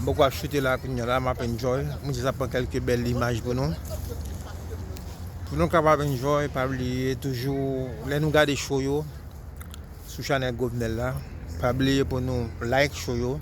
M poko ap chute la kounya la m ap enjoy mwen jis ap pran kelke bèl imaj pou nou pou nou kapab enjoy pa bliye toujou lè nou gade show yo sou chanèl Govnel la pa bliye pou nou like show yo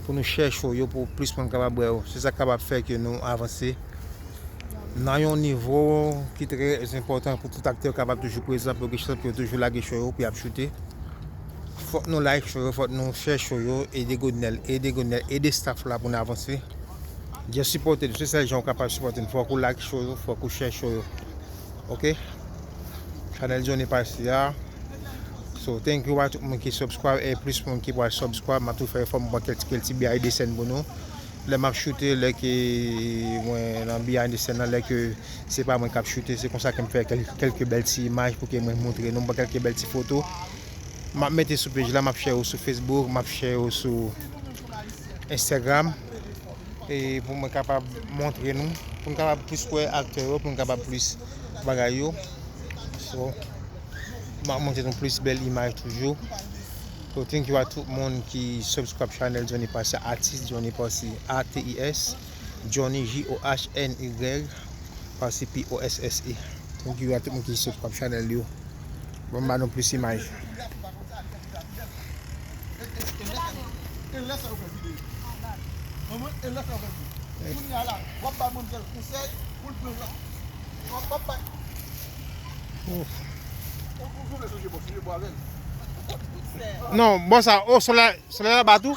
pou nou share show yo pou plis moun kapab wè yo se sa k kapab fè ke nou avanse nan yon nivo ki trè enpòtan pou tout aktè kapab toujou prezan pou ke chak yo toujou lage show yo pou y ap shute. Fok nou like show yo fok nou share show yo ede godnel ede godnel ede staff la pou nou avanse just sipote nou se sel jan ou kapab sipote nou fok ou like show yo fok ou share show yo ok chanel johnny pasi a so thank you a tout moun ki subscribe e plus moun ki pral subscribe map tou fè efò m pran kèk ti kèk ti behind the scene pou nou lè map shoote lè ke mwen nan behind the scene nan lè ke Se pa mwen kap choute, se konsa ke m fè kelke bèl ti imaj pou ke mwen moutre nou, m pran kelke bèl ti foto, m ap mete sou pej la, m ap share yo sou Facebook, m ap share yo sou Instagram, e pou mwen kapab moutre nou, pou nou kapab plis wè aktè yo, pou nou kapab plis bagay yo, so, m ap moutre nou plis bèl imaj toujou, so thank you a tout moun ki subscribe channel Johnny Posse, Atis Johnny Posse, ATIS. Johnny JOHNY Pasi POSSE. Thank you a tout moun ki subscribe channel yo. Bon ba nou plus imaj. Non bon sa oh soleil la bat ou?